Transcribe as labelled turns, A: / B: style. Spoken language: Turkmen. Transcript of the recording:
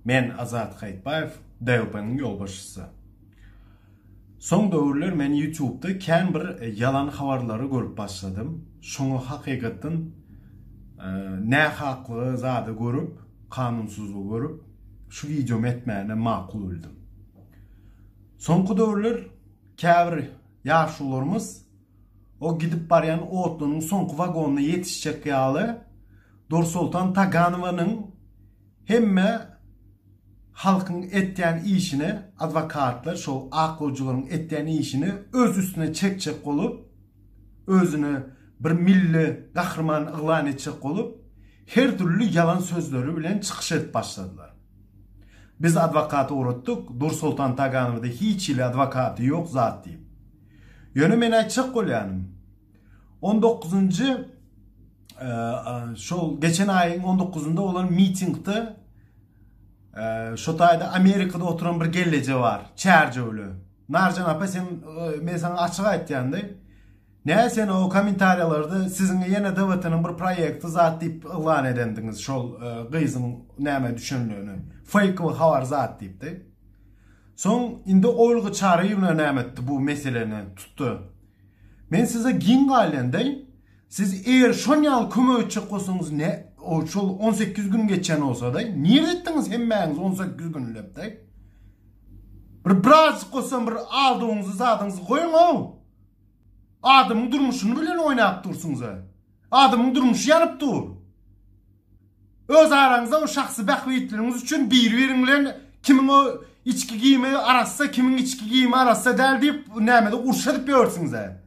A: Men Azat Haýytbaýew, DYP-nyň ýolbaşçysy. Soň döwürler men ýutubda kän bir ýalan habarlary görüp başladym. Şoňa hakykatdan nähaklygy zady görüp, kanunsyzlygy görüp, şu wideomy etmäne makul bildim. Soňky döwürler käbir ýaşularymyz, O gidip barýan otlynyň soňky wagonyna ýetişjek ýaly Dursoltan Taganowanyň hemme halkyň etýän işini, adwokatlar, şol ak gojularyň etýän işini öz üstüne çekjek bolup, özüni bir milli gahryman yglan etjek bolup, her dürli ýalan sözleri bilen çykyş edip başladylar. Biz adwokat ugratdyk, Dursoltan Taganowda hiç hili adwokaty ýok zat diýip. Ýöne men aýtjak bolýanym, on dokuzynjy şol geçen aýyň on dokuzynda bolan mitingde şo taýda Amerikada oturan bir gelleje bar, çärjewli. Narjan apa sen men sana açyk aýtýandy. Näme sen o kommentariýalarda siziň ýene DWT-niň bir proýekti zat diýip yglan edendiňiz şol gyzyň näme düşündigini. Fake we habar zat diýipdi. Soň indi Olga Çaryýewna näme etdi bu meseleni tutdy. Men size giň gaýlandaý, siz eger şon ýaly kömek etjek bolsaňyz ne şol on sekiz gün geçen bolsadaý, nirde etdiňiz hemmäňiz on sekiz günlepdaý. Bir birazjyk bolsam bir aldygyňyzy zadyňyzy goýuň-ow. Adamyň durmuşyny bilen oýnap dursuňyz-a. Adamyň durmuşy ýanyp dur. Öz araňyzda o şahsy bähbitleriňiz üçin biri-biriň bilen kimiň o içki giyimi arassa, kimiň içki giyimi arassa däl diýip nämede urşa edip ýörsiňiz-ä.